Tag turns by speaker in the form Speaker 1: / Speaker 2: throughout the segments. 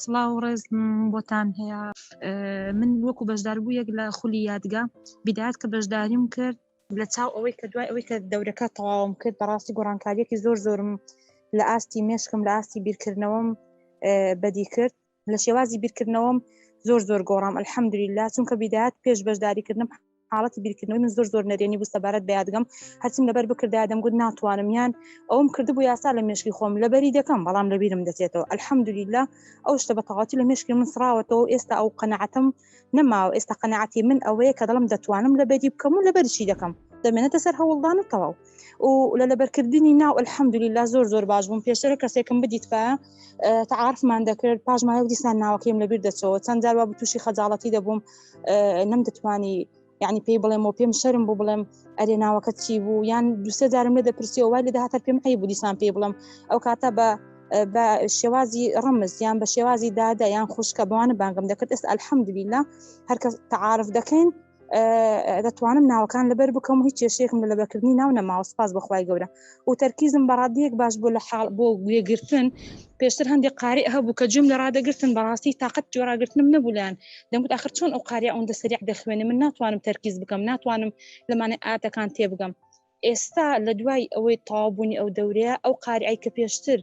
Speaker 1: سڵاو و ڕێز بۆتان هەیە من وەکو بەشداربوو یەک لە خولی یادگە بیدات کە بەشداریم کرد لە چاو ئەوەی کە دوای ئەوەی کە دەورەکە تەواوم کرد بەڕاستی گۆڕانکاریەکی زۆر زۆرم لە ئاستی مێشکم لە ئاستی بیرکردنەوەم بەدی کرد لە شێوازی بیرکردنەوەم زۆر زۆر گۆڕام الحەمدولی لا چونکە بیدات پێش بەشداریکردنم حاڵەتی بیرکردنەوەی من زۆر زۆر نەرێنی بوو سەبارەت بە یادگەم هەرچم لەبەر بکردا دەمگوت ناتوانم یان ئەوم کردبوو یاسا لە مێشکی خۆم لەبەری دەکەم بەڵام لەبیرم دەچێتەوە ئەلحەمدولیلا ئەو شتە بە تەواتی لە مێشکی من سراوەتەوە ئێستا ئەو قەنەعەتم نەماوە ئێستا قەنەعەتی من ئەوەیە کە دەڵم دەتوانم لەبەری بکەم و لەبەرشی دەکەم دەمێنێتە سەر هەوڵدان و تەواو و لە لەبەرکردنی ناو الحەمدولیلا زۆر زۆر باش بووم پێشترە کەسێکم بدیت پا تعاعرفمان دەکرد پاشمایە دیسان ناوەکەیم لەبیر دەچەوە چەند جاروا بە تووشی خەجاڵەتی دەبووم نەم دەتوانی یعنی پێی بڵێم و پێم شەرم بوو بڵێم ئەرێ ناوەکە چی بوو یان دوسێ جارم لە دەپرسیەوە وای لە داهاتر پێم قەی بوو دیسان پێی بڵم ئەو کاتە بە بە شێوازی ڕمز یان بە شێوازی دادە یان خوشکە بەوانە بانگم دەکرد ئێستا ئەلحەمدبیلا هەرکەس تعاعرف دەکەین دەتوانم ناوەکان لەبەر بکەم هیچ کێشێکم لە لەبەرکردنی ناو نەماوە سپاس بەخوای گەورە و تەرکیزم بە ڕاددەیەک باش بوو لە حاڵ بۆ گوێگرتن پێشتر هەندێک قارئ هەبوو کە گوێم لە ڕادەگرتن بەڕاستی تاقەت گوێ ڕاگرتنم نەبوو لایان دەمگوت ئاخر چۆن ئەو قاریا ئەوەندە سەریع دەخوێنێ من ناتوانم تەرکیز بکەم ناتوانم لەمانە ئاتەکان تێبگەم ئێستا لە دوای ئەوەی تەواوبوونی ئەو دەورەیە ئەو قارئای کە پێشتر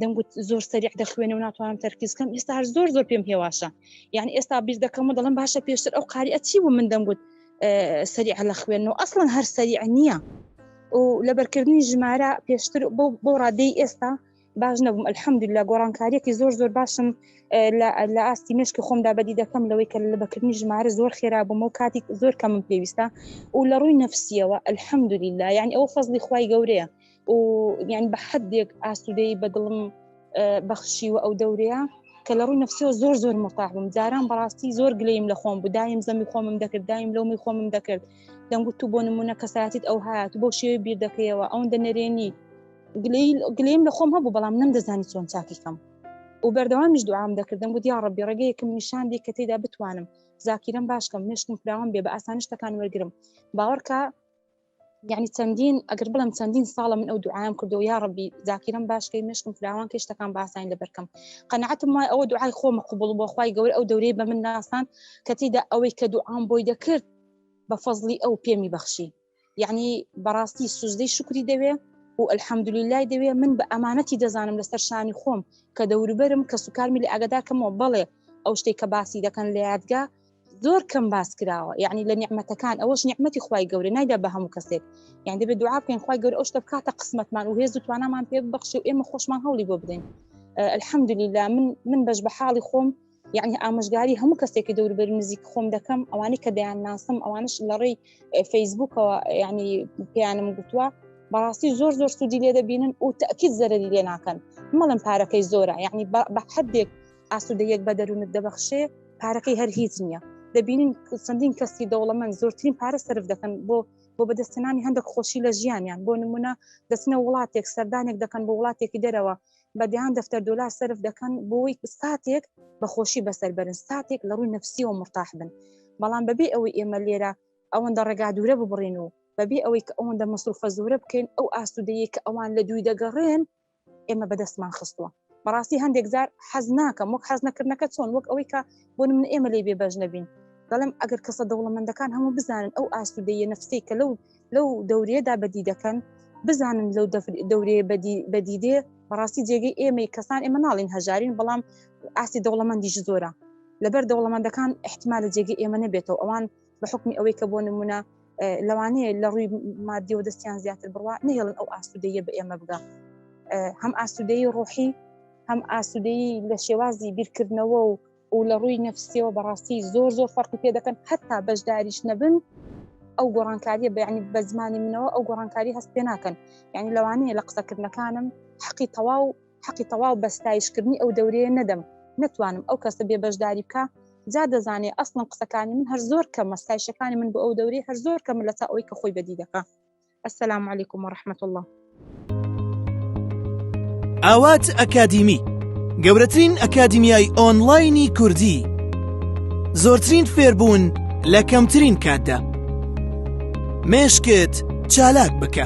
Speaker 1: دەمگوت زۆر سەریع دەخوێنە و ناتوانم تەرکیز کەم ئێستا هەر زۆر زۆر پێم هێواشە یعنی ئێستا بیر دەکەم و دەڵم باشە پێشتر ئەو قاریە چی بوو من دەمگوت سەریع لە خوێن و ئەسڵەن هەر سەریع نییە و لەبەرکردنی ژمارە پێشتر بۆ ڕادەی ئێستا باش نەبووم ئەلحەمد لە گۆڕانکاریەکی زۆر زۆر باشم لە ئاستی مشکی خۆمدا بەدی دەکەم لەوەی کە لە بەکردنی ژمارە زۆر خێرا بووم و کاتیک زۆر کەمم پێویستە و لە ڕووی نەفسیەوە ئەلحەمدولی لا یعنی ئەو فەزلی خی گەورەیە و یعنی بە حدێک ئاسوودەی بە دڵم بەخشیوە ئەو دەورەیە کە لە ڕووی نفسەوە زۆر زۆر متاحبم جاران بەڕاستی زۆر گلیم لە خۆم بودایم زەمی خۆمم دەکرد دایم لەومی خۆمم دەکرد دەنگوت تو بۆ نمونە کەساتیت ئەو هاات بۆ شێوی بیر دەکەیەوە ئەو دەنەرێنی گلیم لە خۆم هەبوو بەڵام نم دەزانی چۆن چاکیکەم و بەردەوامیش دوام دەکردم گوت یا ڕبی ڕێگەیەکم نیشاندی کە تێدا بتوانم زاکیرم باشکەم مشکم فراوان بێ بە ئاسانی شتەکان وەرگرم باوەڕکە یعنی چەندین ئەگەر بڵم چەندین ساڵە من ئەو دوعاام کردو یا ڕبی زاکیرم باشکەی مشکم فراوان کەشتەکان باسان لە بەرکەم قەنەعەتم وای ئەوە دوعای خۆمە قوبڵ بۆ خی گەور ئەو دەورەی بە من ناسان کەتیدا ئەوەی کە دوعام بۆی دەکرد بە فەزلی ئەو پێمی بەخشی یعنی بەڕاستی سوزدەی شکری دەوێ و ئەلحەمدلیلای دەوێ من بە ئەمانەتی دەزانم لەسەر شانی خۆم کە دەوروبەرم کە سوکارمی لە ئەگەداکەمەوە بەڵێ ئەو شتێک کە باسی دەکەن لە یادگە زۆر کەم باس کراوە یعنی لە نیعممەتەکان ئەوەش نیعممەتی خی گەورە نایدا بە هەموو کەسێک یان دەبێت دوعا بکەین خی گەور ئەو شتە بکاتە قسمەتمان و هێز و توانامان پێ بەخش و ئێمە خۆشمان هەوڵی بۆ بدەین الحەمدلیلا من من بەش بە حاڵی خۆم یعنی ئامۆژگاری هەموو کەسێکی دەوربەر نزیک خۆم دەکەم ئەوانەی کە دەیان ناسم ئەوانش لە ڕێی فەیسبوکەوە ینی پیانم گوتووە بەڕاستی زۆر زۆر سوودی لێ دەبینن و تاکیت زەرری لێ ناکەن مەڵم پارەکەی زۆرە یعنی بە حدێک ئاسوودەیەک بە دەروونت دەبەخشێ پارەکەی هەر هیچ نییە دەبینین چەندین کەسی دەوڵەمەند زۆرترین پارە سرف دەکەن بۆ بۆ بەدەستنانی هەندێک خۆشی لە ژیانیان بۆ نمونە دەچنە وڵاتێک سەردانێک دەکەن بۆ وڵاتێکی دەرەوە بەدەیان دەفتەر دلار سرف دەکەن بۆی ساتێک بەخۆشی بەسەر بەرن ساتێک لە ڕووی نفسی و مرتاح بن بەڵام بەبێ ئەوەی ئێمە لێرە ئەوەندە ڕێگا دوورە ببڕین و بەبێ ئەوەی کە ئەوەندە مەسروفە زۆرە بکەین ئەو ئاسوودەیە کە ئەوان لە دووی دەگەڕێن ئێمە بەدەستمان خستووە بەڕاستی هەندێک جار حەز ناکەم وەک حەز نەکردنەکە چۆن وەک ئەوەی کە بۆ من ئێمە لی بێ بەش نەبین دەڵێم ئەگەر کەسە دەوڵەمەندەکان هەموو بزانن ئەو ئاسوودەیە نفسی کە لەو لەو دەورێدا بەدی دەکەن بزانن لەو دەورێ بەدیدێ بەڕاستی جێگەی ئێمەی کەسان ئێمە ناڵین هەژارین بەڵام ئاستی دەوڵەمەندیش زۆرە لەبەر دەوڵەمەندەکان احتمالە جێگە ئێمە نەبێتەوە ئەوان بە حکمی ئەوەی کە بۆ نمونە لەوانەیە لە ڕووی مادیەوە دەستیان زیاتر بڕوا نهێڵن ئەو ئاسوودەیە بە ئێمە بگا هەم ئاسوودەی ڕۆحی هەم ئاسوودەی لە شێوازی بیرکردنەوە و و لە ڕووی نەفسیەوە بەڕاستی زۆر زۆر فەرقی پێ دەکەن حتا بەشداریش نەبن ئەو گۆڕانکاریە بەیانی بە زمانی منەوە ئەو گۆڕانکاری هەست پێ ناکەن یعنی لەوانەیە لە قسەکردنەکانم حەقی تەواو حەقی تەواو بە ستایش کردنی ئەو دەورەیە نەدەم نەتوانم ئەو کەسە بێ بەشداری بکە جا دەزانێ ئەسڵم قسەکانی من هەر زۆر کەمە ستایشەکانی من بۆ ئەو دەورەی هەر زۆر کەمە لە تا ئەوەی کە خۆی بەدی دەکە السلام علیکم و رحمت الله
Speaker 2: ئاوات ئەکادیمی گەورەترین ئەکادیمیای ئۆنلاینی کوردی زۆرترین فێربوون لە کەمترین کاتدا مێشکت چالاک بکە.